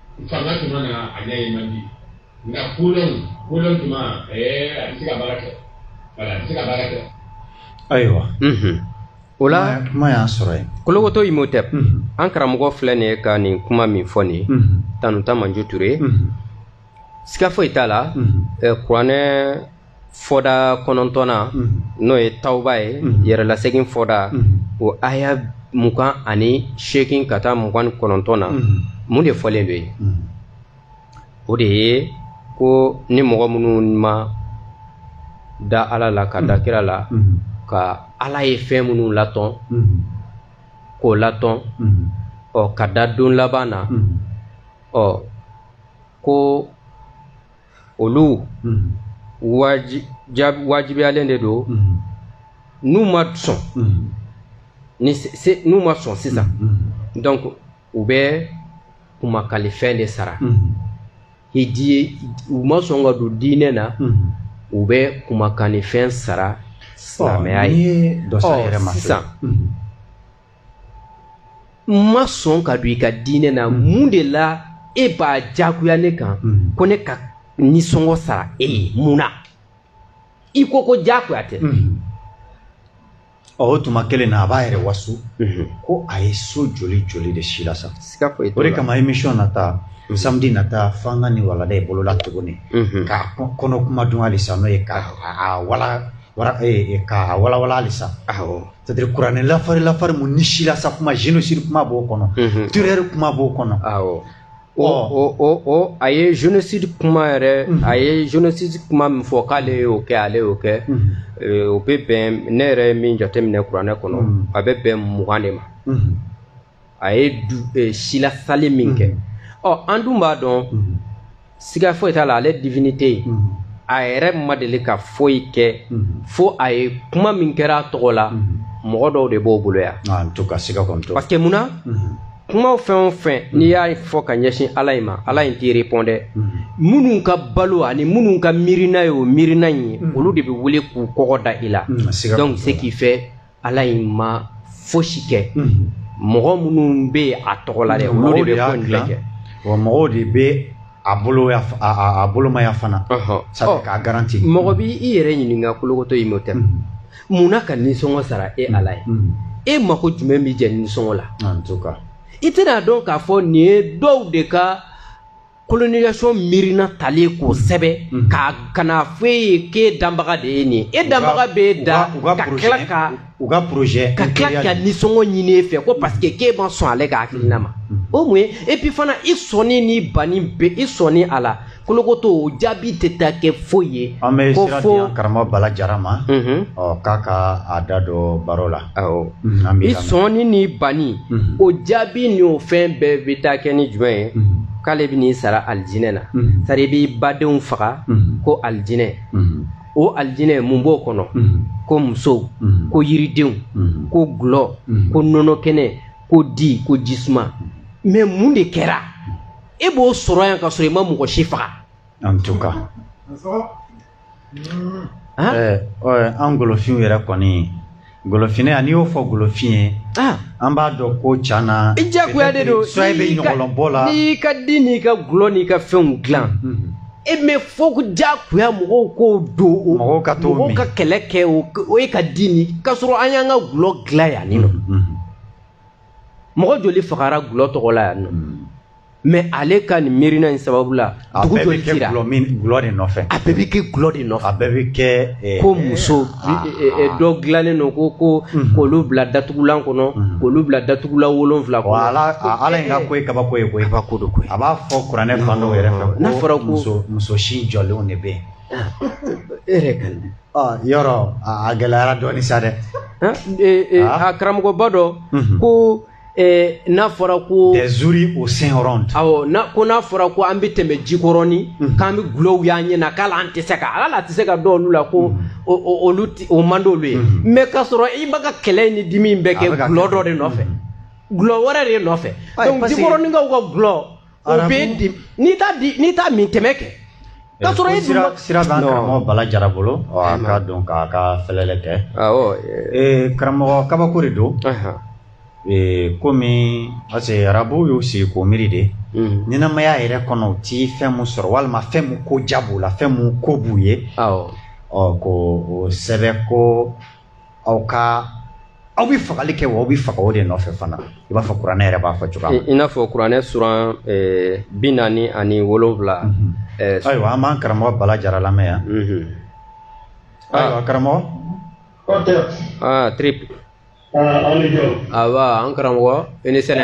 Fanga tuma na a ɲɛ ye man di nka kolon kolon tuma a bɛ se ka baara kɛ a bɛ se ka baara kɛ ayiwa o la kuma y'an sɔrɔ yen kolokoto imhotep an karamɔgɔ filɛ nin ye ka nin kuma min fɔ nin ye tanuta manju ture siga foyi t'a la kuranɛ fɔda kɔnɔntɔnna n'o ye tawuba ye yɛrɛlasegin fɔda o aya mugan ani seegin ka taa mugan ni kɔnɔntɔn na mun de fɔlen don yen o de ye ko ni mɔgɔ minnu ma da ala la ka da kira la ka ala ye fɛn minnu latɔn k'o latɔn ɔ ka da don laban na ɔ ko olu wajibiyalen de don n'u ma sɔn n'u ma sɔn sisan donc u bɛ kumakalifɛn de sara u ma sɔn ka don diinɛ na u bɛ kumakanifɛn sara silamɛya ye sisan ma sɔn ka don i ka diinɛ na mm. mun de la e b'a jagoya ne kan mm. ko ne ka nisɔngɔ sara e ye mun na i ko ko jagoya tɛ mm. o tuma kelen na a b'a yɛrɛ waso mm-hmm. ko a ye so joli joli de silasa o de kama émission nata mm-hmm. samedi nata f'an ka nin walada i bolo la tuguni mm-hmm. k'a kɔnɔ kuma dun halisa n'o ye k'a wala eh, eh, walawala halisa c'est à dire kuranɛ lafari lafari mun ni silasa kuma génocide kuma b'o kɔnɔ mhm. terreur kuma b'o kɔnɔ awɔ o o o o a ye génocide kuma yɛrɛ mhm. a ye génocide kuma min fɔ k'ale y'o kɛ ale y'o kɛ mhm. eh, o bɛ bɛn ne yɛrɛ ye min jateminɛ kuranɛ kɔnɔ a bɛ bɛn mugan de ma a ye du eh, silasali min kɛ ɔ an dun b'a dɔn siga foyi t'a la ale divinité a yɛrɛ ma deli ka foyi kɛ fo a ye kuma min kɛra a tɔgɔ la mɔgɔ dɔw de b'o bolo yan ah, parce que mun na kumaw fɛn o fɛn n'i y'a fɔ ka ɲɛsin ala in ma ala in t'i répondre minnu ka balo ani minnu ka miirina ye o miirina in ye olu de bɛ wuli k'u kɔgɔ da i la donc ce qui fait ala in ma fosi kɛ mɔgɔ minnu bɛ yen a tɔgɔ la dɛ olu de bɛ ko in bɛɛ kɛ wa mɔgɔw de bɛ a bolo a bolomaya fana sabu k'a garanti mɔgɔ b'i yɛrɛ ɲininka kolokoto imhotep mun na ka nisɔngɔ sara e ala in e mako jumɛn b'i jɛ nisɔngɔ la i tɛna a dɔn k'a fɔ nin ye dɔw de ka colonisation miirina talen k'o sɛbɛn mhm. ka ka n'a fɔ e ye k'e danbaga de ye nin e danbaga bɛ e da ka tila ka u ka projet ka tila ka nisɔngɔ ɲini e fɛ ko parce que k'e ma sɔn ale ka hakilina ma mhm. o mun ye et puis fana i sɔnni ni banni bɛɛ i sɔnni a la kolokoto o jaabi tɛ taa kɛ foyi ye an bɛ sira di an karamɔgɔ bala jara ma mhm. ɔ k'a ka a da don baro la awɔ Mhm, i sɔnni ni banni mhm. o jaabi ni o fɛn bɛɛ bɛ taa kɛ ni jumɛn ye mhm. k'ale bɛ n'i sara alijinɛ na sari i b'i badenw faga ko alijinɛ o alijinɛ mun b'o kɔnɔ ko musow ko yiridenw ko gulɔ ko nɔnɔ kɛnɛ ko di ko jisuma mais mun de kɛra e b'o sɔrɔ yan ka sɔrɔ i ma mɔgɔ si faga. an golofin yɛrɛ kɔni golofin yan n'i y'o fɔ golofin ye an b'a dɔn ko ca na i jagoya de don so bɛ ɲɔgɔnlɔnbɔ la n'i ka di n'i ka gulɔ n'i ka fɛnw dilan e mais fo jagoya mɔgɔw k'o don o mɔgɔw ka to mɔgɔw ka kɛlɛ kɛ o ye ka di ni k'a sɔrɔ an y'an ka gulɔ dilan yan nin nɔ mɔgɔ joli fagara gulɔ tɔgɔ la yan nɔ hmm. mais ale ka nin miirina in sababu la dugu joli cira a bɛɛ bɛ kɛ gulɔ de nɔfɛ a bɛɛ bɛ kɛ gulɔ de nɔfɛ a bɛɛ bɛ kɛ eh, ko muso ah, eh, eh, ah. dɔ dilannen don ko ko hmm. k'olu bila datugulan kɔnɔ hmm. k'olu bila datugulan wolonwula kɔnɔ ala ala in ka ko ye kabako ye koyi kabako don koyi a b'a fɔ kuranɛ fan dɔw yɛrɛ fɛ ko n'a fɔra ko muso muso sin jɔlenw de bɛ yen e yɛrɛ ka yɔrɔ a gɛlɛyara dɔɔni sa dɛ a karamɔgɔba dɔ ko n'a fɔra ko injure au seigneur awɔ ko n'a fɔra ko an bɛ tɛmɛ jikɔrɔni k'an bɛ gulɔw y'an ɲɛ na k'ala an tɛ se ka ala tɛ se ka dɔn olu la ko olu o man d'olu ye mais k'a sɔrɔ i b'a ka kɛlɛ ni dimi bɛɛ kɛ gulɔ dɔ de nɔfɛ gulɔ wɛrɛ de nɔfɛ donc jikɔrɔninkaw ka gulɔ o bɛ di n'i t'a min tɛmɛ kɛ k'a sɔrɔ e sira sira b'an karamɔgɔ bala jara bolo a ka don k'a ka fɛlɛlɛ kɛ awɔ karamɔgɔ kabako de don komi parce que arabuw y'u sigi k'o miiri de ɲɛnamaya yɛrɛ kɔnɔ u ti fɛn mun sɔrɔ walima fɛn mun ko ja b'u la fɛn mun ko b'u ye awɔ ɔ ko o sɛbɛn ko aw ka aw bɛ fagali kɛ wa aw bɛ faga o de nɔfɛ fana i b'a fɔ kuranɛ yɛrɛ b'a fɔ cogoya min na. i n'a fɔ kuranɛ suran eh, bi naani ani wolonwula. Mhm. Eh, ayiwa an b'an karamɔgɔ bala jara lamɛn yan. Mhm. Ah. ayiwa karamɔgɔ. aa ah, trip. Ah, aw ni jɔ. awa an karamɔgɔ i ni sɛnɛ.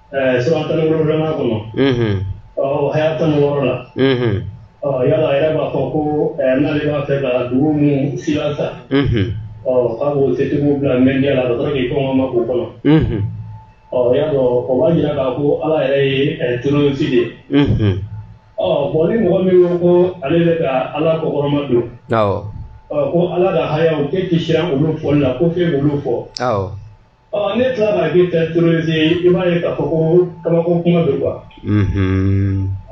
ɛɛ suran tan ni wolonwula kɔnɔ ɔ haya tan ni wɔɔrɔ la ɔ ala yɛrɛ b'a fɔ ko ɛɛ n'ale b'a fɛ ka dugu min silasa ɔ k'a b'o setigiw bila mɛndiya la ka sɔrɔ k'i kɔngɔ ma k'o kɔnɔ ɔ y'a dɔn o b'a jira k'a fɔ ala yɛrɛ ye ɛɛ terorisi de ye ɔ bon ni mɔgɔ min ko ko ale bɛ ka ala kɔkɔrɔma don ɔ ko ala ka hayaw k'e tɛ siran olu fɔli la ko f'e k'olu fɔ. ɔ ne tila ka kɛ tɛ terorisi ye i b'a ye k'a fɔ ko kabako kuma bɛ quoi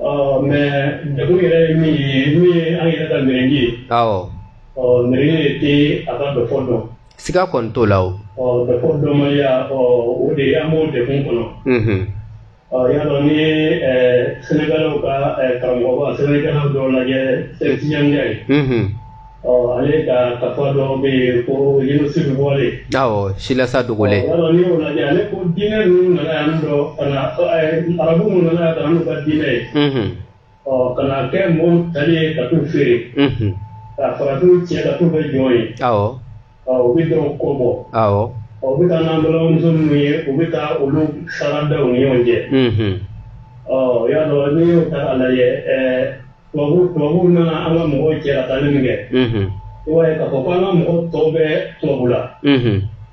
ɔ mais degun yɛrɛ ye min ye min ye an yɛrɛ ka mɛrɛndi ye awɔ ɔ mɛrɛndi de tɛ a ka dɔfɔ dɔn siga kɔni t'o la o ɔ dɔfɔ dɔnbaliya ɔ o de ye an b'o degun kɔnɔ y'a dɔn ni senegalɛw ka karamɔgɔba senegalɛ dɔ lajɛ cheikh tidiane ndiaye ale ka kafa dɔ bɛ yen ko génocide voilé awɔ silasa dogolen y'a dɔn n'i y'o lajɛ ale ko diinɛ ninnu nana yan dɔ ka na arabu minnu nana yan ka na n'u ka diinɛ ye ɔ ka na kɛ mɔgɔw tali ye ka t'u feere ka farafinw cɛ ka t'u kɛ jɔn ye u bɛ dɔw kɔ bɔ u bɛ taa n'an balimamuso minnu ye u bɛ taa olu sara da u ni ɲɔgɔn cɛ ɔ y'a dɔn n'i y'o ta k'a lajɛ tubabu tubabuw nana an ka mɔgɔw cɛ ka taali min kɛ i b'a ye k'a fɔ ko an ka mɔgɔ tɔw bɛ tubabu la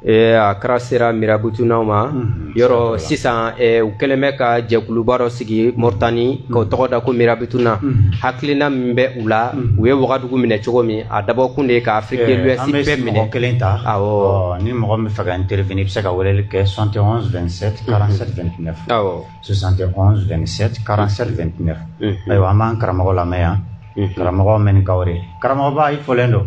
Eh, a kɛra sera mirabutunaw ma mhm. yɔrɔ sisan eh, u kɛlen bɛ ka jɛkuluba dɔ sigi moritani ka o mhm. tɔgɔ da ko mirabutuna mhm. hakilina min bɛ u la u ye wagadugu minɛ cogo min a dabɔkun de ye ka afrique de eh, l'ouest bɛɛ minɛ kelen ta awɔ ni mɔgɔ min fɛ ka intervenir i bɛ se ka weleli kɛ 71 27 47 29 awɔ 71 27 47 29 ayiwa an b'an karamɔgɔ lamɛn yan karamɔgɔ mɛnikaw de karamɔgɔba i fɔlen don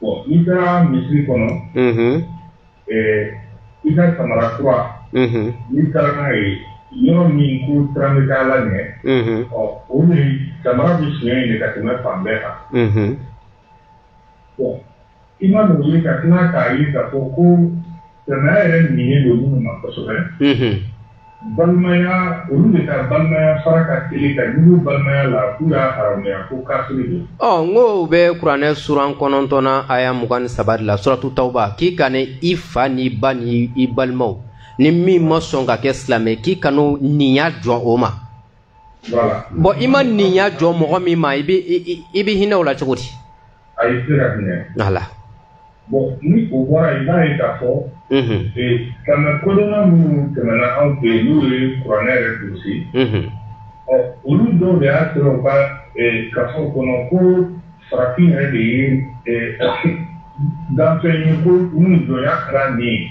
Bon n'i taara misiri kɔnɔ, unhun, ɛɛ i ka samara kura, unhun, n'i taara n'a ye yɔrɔ min ko siran bɛ k'ala ɲɛ, unhun, ɔ o de samara bɛ sonya yen de ka tɛmɛ fan bɛɛ kan, unhun, bon i man'o ye ka tila k'a ye k'a fɔ ko Silamɛya yɛrɛ ɲinini don minnu ma kosɛbɛ, unhun, balimaya olu de ka balimaya fara ka teli ka ɲugu balimaya la k'u y'a haramuya ko kafiri don. Ɔ n ko u bɛ kuranɛ suran kɔnɔntɔnnan aya mugan ni saba de la suratu tawuba k'i kana i fa n'i ba ni i balimaw ni min ma sɔn ka kɛ silamɛ k'i kan'o ninya jɔ o ma bon i ma ninya jɔ mɔgɔ min ma i bɛ hinɛ o la cogo di a ye se ka hinɛ a la bon ni o bɔra i b'a ye k'a fɔ k'an na kodɔnna minnu tɛmɛna anw fɛ yen n'u ye kuranɛ yɛrɛ durusi ɔ olu dɔw de y'a sɔrɔ u ka gafe kɔnɔ ko farafin yɛrɛ de ye danfɛn ye ko u ni jɔnya kɛra nin ye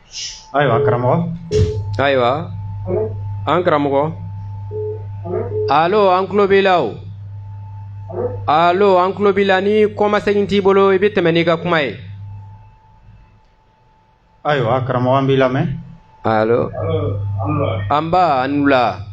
ayiwa karamɔgɔ ayiwa an karamɔgɔ alo an tulo b'i la o alo an tulo b'i la ni kɔmasegin t'i bolo i bɛ tɛmɛ n'i ka kuma ye ayiwa karamɔgɔ an b'i lamɛn alo anba an wula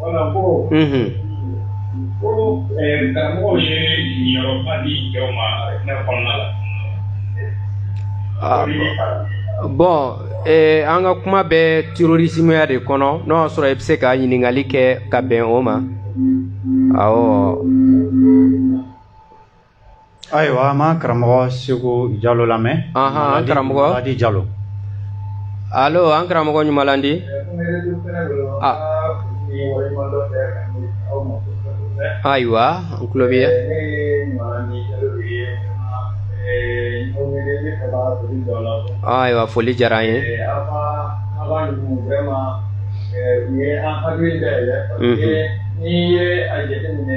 Wala ko ko karamɔgɔ ye yɔrɔba di jɔn ma ne kɔnɔna la bon an ka kuma bɛ terrorismeya de kɔnɔ n'o y'a sɔrɔ i bɛ se ka ɲininkali kɛ ka bɛn o ma awɔ ayiwa an b'an karamɔgɔ segu jalo lamɛn an karamɔgɔ di jalo alo an karamɔgɔ ɲumanlandi ayiwa n tulo bɛ ayiwa foli diyara an ye u ye an hakili dayɛlɛ parce que n'i ye a jateminɛ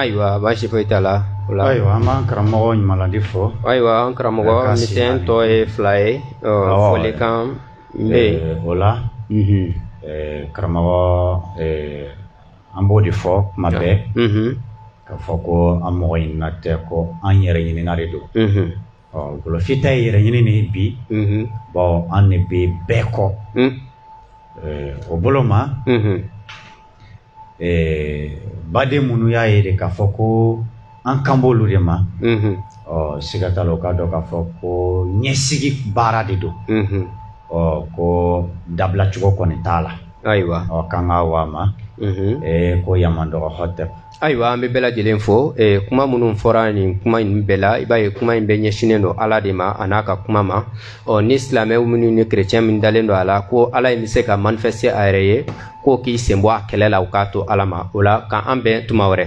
ayiwa baasi foyi t'a la ayiwa an b'an karamɔgɔ ɲumanladi fo ayiwa an karamɔgɔ misɛn tɔ ye fila ye folikan bɛ yen o la karamɔgɔ an b'o de fɔ tuma bɛɛ k'a fɔ ko an mɔgɔ ɲinina tɛ ko an yɛrɛ ɲinina de don golofin ta ye yɛrɛ ɲini de ye bi bawo an de bɛ bɛɛ kɔ o bolo ma baden minnu y'a ye de k'a fɔ ko an kan b'olu de ma ɔ siga t'a la o k'a dɔn k'a fɔ ko ɲɛsigi baara de don ɔ ko dabilacogo kɔni t'a la ayiwa ɔ k'an ka wa ma ko yamandɔgɔ hɔtɛ ayiwa an bɛ bɛɛ lajɛlen fo eh, kuma minnu fɔra nin kuma in bɛɛ la i b'a ye kuma in bɛɛ ɲɛsinnen don ala de ma a n'a ka kuma ma ɔ ni silamɛw minnu ni kerecɛn min dalen don a la ko ala in bɛ se ka manifeste a yɛrɛ ye k'o k'i sen bɔ a kɛlɛ la u k'a to ala ma o la ka an bɛn tuma wɛrɛ